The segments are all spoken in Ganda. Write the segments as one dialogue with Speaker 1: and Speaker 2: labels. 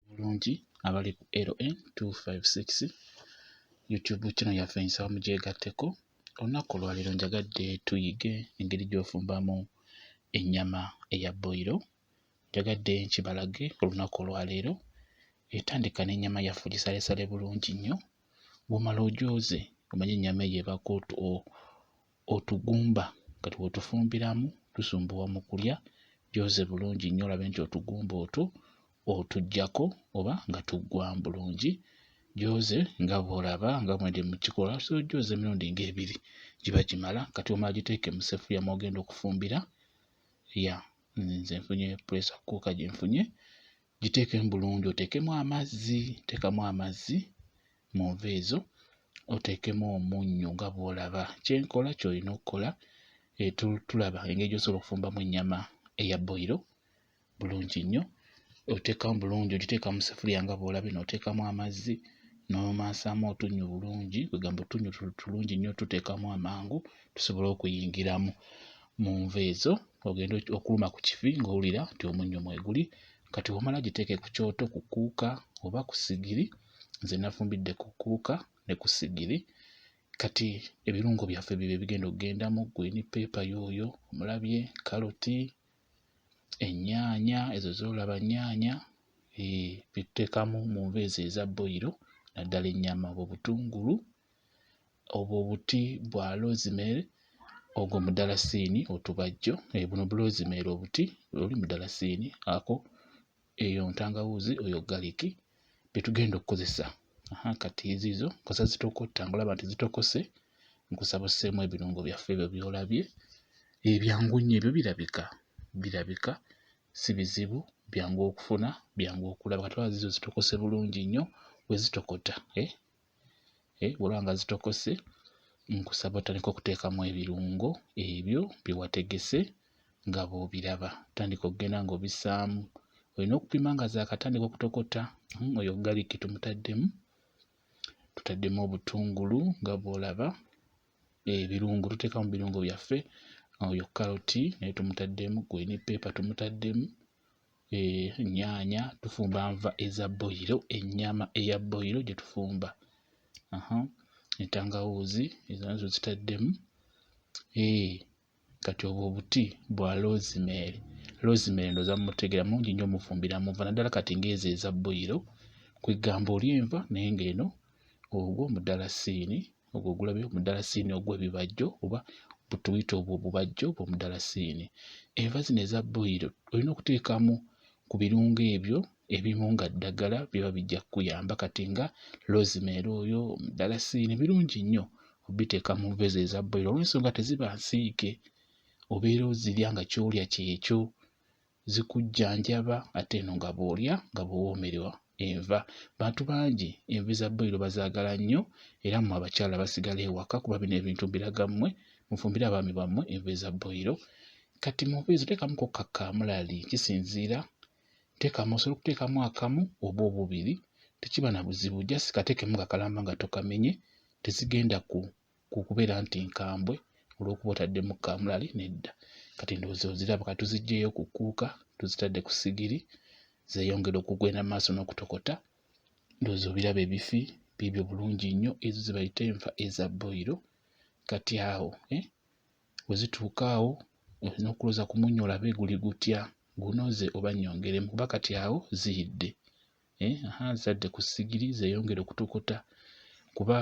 Speaker 1: bulungi abali ku LN 256 YouTube channel yaffe nsaba mugyegatteko. Olunaku olwaleero njagadde tuyige engeri gy'ofumbamu ennyama eya boyiro. Njagadde nkibalage olunaku olwaleero. Etandika n'ennyama yaffe ogisalesale bulungi nnyo. Bw'omala ogyoze omanye ennyama eyo ebaako otugumba kati wetufumbiramu tusumbuwa mu kulya gyoze bulungi nnyo olabe nti otugumba otwo otuggyako oba nga tuggwamu bulungi gyoze nga bw'olaba nga bwendi mu kikola osobola ogyoza emirundi ng'ebiri giba gimala kati omala giteeke mu sefuliya mw'ogenda okufumbira ya nze nfunye puresa kuuka gye nfunye giteekemu bulungi oteekemu amazzi teekamu amazzi mu nva ezo oteekemu omunnyo nga bw'olaba kyenkola ky'olina okukola eh, tulaba engeri gy'osobola okufumbamu ennyama eya boyiro bulungi nnyo oteekamu bulungi ogiteeka mu sefuriya nga bw'olabye n'oteekamu amazzi n'omansaamu otunnyo bulungi kwegamba otunnyo tulungi nnyo tuteekamu amangu tusobole okuyingiramu mu nva ezo ogenda okuluma ku kifi ng'owulira nti omunnyo mweguli kati wamala giteeke ku kyoto ku kuuka oba ku sigiri nze nafumbidde ku kuuka ne ku sigiri kati ebirungo byaffe bibyo ebigenda okugendamu gwini peepa yooyo omulabye kaloti ennyaanya ezo zolaba nnyaanya eh, bituteekamu mu nva ezo eza boyiro naddala ennyama oba obutungulu Obwo buti bwa lozimeeri, ogwo mudalasiini otubajjo. Eh, buno bulozimeeri obuti, oli mudalasiini, ako eyo ntangawuuzi, oyo galiki bye tugenda okukozesa. Aha, kati eziizo nkosa zitokotta, ngolaba nti zitokose, nkusaba osseemu ebirungo byaffe ebyo by'olabye. Ebyangu eh, nnyo ebyo birabika, birabika si bizibu, byangu okufuna, byangu okulaba. Kati olaba ziizo zitokose bulungi nnyo bwe zitokota, eh? eh, bwolaba nga zitokose nkusaba otandika okuteekamu ebirungo ebyo bye wategese nga bw'obiraba tandika okugenda ng'obisaamu olina okupima nga zaakatandika okutokota hmm, oyo galiki tumutaddemu tutaddemu obutungulu nga bw'olaba ebirungo tuteekamu birungo byaffe oyo karoti naye tumutaddemu gweni peepa tumutaddemu ennyaanya, eh, tufumba nva eza boyiro, ennyama eya boyiro gye tufumba, entangawuuzi ezo nazo zitaddemu. Eh, kati obwo obuti bwa rosemary. Rosemary ndowooza mumutegeera mungi nnyo mufumbira mu nva naddala kati ng'ezo eza boyiro, kwegamba olya enva naye ng'eno ogwo mudalasiini ogwo ogulabi omudalasiini ogw'ebibajjo oba butuyita obwo obubajjo bw'omudalasiini enva zino eza boyiro olina okuteekamu ku birungo ebyo ebimu nga ddagala biba bijja kukuyamba kati nga rosemary oyo omudalasiini birungi nnyo obiteeka mu nva ezo eza boyiro olwensonga teziba nsiike obeera ozirya nga kyolya kyekyo zikujjanjaba ate eno nga bw'olya nga bw'owoomerwa enva. Bantu bangi enva eza bboyiro bazaagala nnyo era mmwe abakyala abasigala ewaka kuba bino ebintu mbiraga mmwe mufumbire abaami bammwe enva eza bboyiro. Kati mu nva ezo teekamuko ka kaamulali kisinziira teekamu osobola okuteekamu akamu oba obubiri tekiba na buzibu just kateekemu nga kalamba nga tokamenye tezigenda ku ku kubeera nti nkambwe olw'okuba otaddemu kaamulali nedda. Kati ndowooza oziraba ka tuziggyeyo ku kkuuka tuzitadde ku sigiri zeeyongera okugenda mu maaso n'okutokota. Ndowooza obiraba ebifi biibyo bulungi nnyo ezo ze bayita enva eza boyiro. Kati awo eh, we zituuka awo olina okulooza ku munnyo olabe guli gutya gunoze oba nnyongeremu kuba kati awo ziyidde. eh, azadde ku sigiri zeyongere okutukuta kuba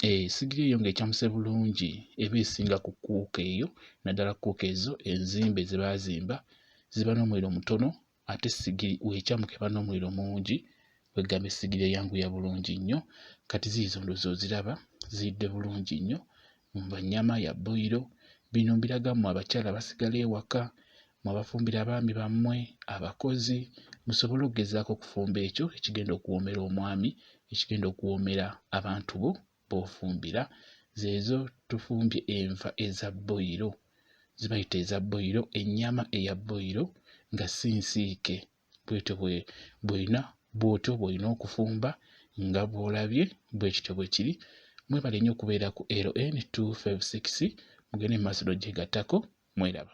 Speaker 1: eh, sigiri eyo nga ecamuse bulungi eba esinga ku kuuka eyo naddala kuuka ezo enzimbe zebazimba ziba n'omuliro mutono ate sigiri wecamuka eba n'omuliro mungi kwegamba esigiri eyanguya bulungi nnyo kati ziizo ndozi oziraba ziyidde bulungi nnyo Mbu ennyama ya boyiro. Bino mbiraga mmwe abakyala abasigala ewaka, mmwe abafumbira abaami bammwe, abakozi, musobole okugezaako okufumba ekyo ekigenda okuwoomera omwami, ekigenda okuwoomera abantu bo b'ofumbira. Zeezo tufumbye enva eza boyiro, zibayita eza boyiro, ennyama eya boyiro nga si nsiike. bwetyo bwolina bwotyo bwolina okufumba nga bwolabye bwekityo bwekiri mwebale nnyo okubeera ku LN256 mugende mumaaso n'ojegatako mweraba.